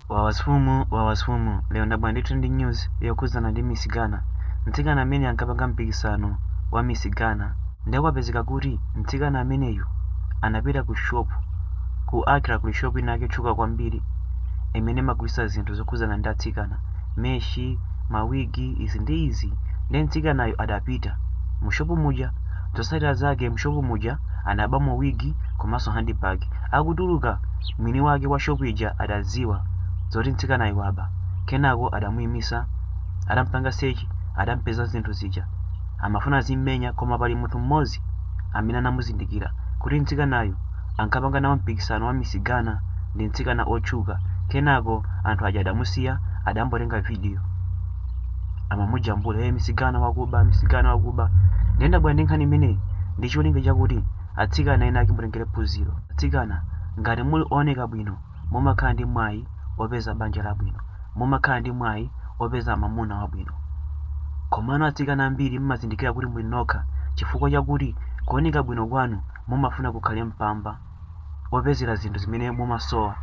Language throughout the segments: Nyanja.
Wawasfumu Wawasfumu lero ndabwera ndi trending news yokhudzana ndi Miss Ghana. Mtsikana amene ankapanga mpikisano wa Miss Ghana ndiye kwapezeka kuti mtsikana ameneyu anapita ku shop ku Accra kuli shop ina yake yotchuka kwambiri imene imagulitsa zinthu zokhudzana ndi atsikana meshi mawigi izi ndi izi ndiye mtsikanayo adapita mu shop muja zotsatira zake mu shop muja anabamo wig komanso handbag. Akutuluka, mwini wake wa shop ija adadziwa zoti mtsikanayu waba. Kenako adamuimisa, adampanga search, adampeza zinthu zija. Amafuna azimmenya koma pali munthu mmodzi amene anamuzindikira kuti mtsikanayu ankapanga nawo mpikisano wa Miss Ghana ndi mtsikana otchuka. Kenako anthu aja adamusiya, adangomutenga video. amamujambula hey, Miss Ghana wakuba Miss Ghana wakuba ndiye ndabwera ndi nkhani imeneyi ndi cholinga chakuti atsikana ena ake mutengere phunziro atsikana ngati muli ooneka bwino mumakhala ndi mwayi opeza banja labwino mumakhala ndi mwayi opeza mamuna wabwino komano atsikana ambiri mmazindikira kuti muli nokha chifukwa chakuti kuoneka bwino kwanu mumafuna kukhale mpamba opezera zinthu zimene mumasowa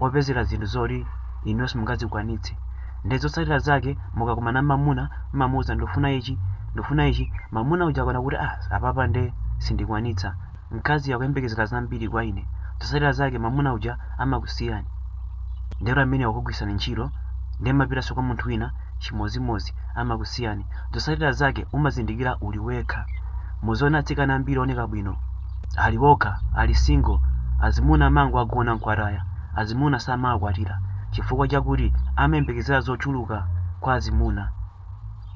opezera zinthu zoti inuyo simungazikwanitse nde zotsatira zake mukakumana mamuna mmamuuza ndifuna ichi ndifuna ichi mamuna uja akona kuti ah apapa nde sindikwanitsa mkazi akuyembekezera zambiri kwa ine zotsatira zake mamuna uja amakusiyani ndero amene wakugwiritsani ntchito nde mmapitanso kwa munthu wina chimodzimodzi amakusiyani zotsatira zake umazindikira uli wekha muziona atsikana ambiri oneka bwino ali okha, ali single, azimuna amangowagona nkuwataya, azimuna samawakwatira chifukwa chakuti amayembekezera zochuluka kwa azimuna,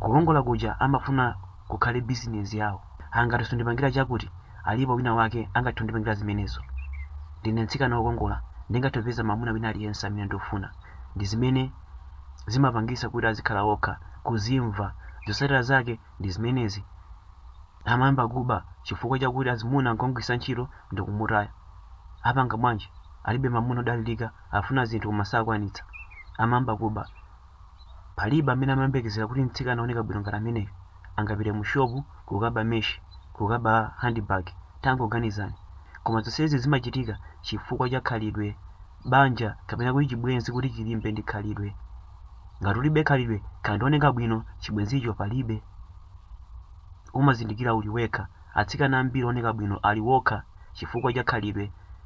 kukongola kuja amafuna kukhale business yawo, ha ngati sundipangira chakuti alipo wina wake angathe kundipangira zimenezo, ndine mtsikana wokongola ndingathe kupeza mwamuna wina aliyense amene ndikufuna, ndi zimene zimapangisa kuti azikhala okha, kuzimva, zotsatira zake ndi zimenezi. Amayamba kuba chifukwa chakuti azimuna ankamugwiritsa ntchito ndikumutaya. Apanga bwanji? Alibe mamuna odalirika, afuna zinthu koma sakwanitsa. Amayamba kuba. Palibe amene amayembekezera kuti mtsikana ooneka bwino ngati ameneyu angapite mu shopu kukaba meshi, kukaba handbag. Tangoganizani. Koma zonsezi zimachitika chifukwa cha khalidwe. banja kapena kuti chibwenzi kuti chilimbe ndi khalidwe. Ngati ulibe khalidwe, kaya ndi ooneka bwino, chibwenzicho palibe. Umazindikira uli wekha. Atsikana ambiri ooneka bwino ali okha chifukwa cha khalidwe.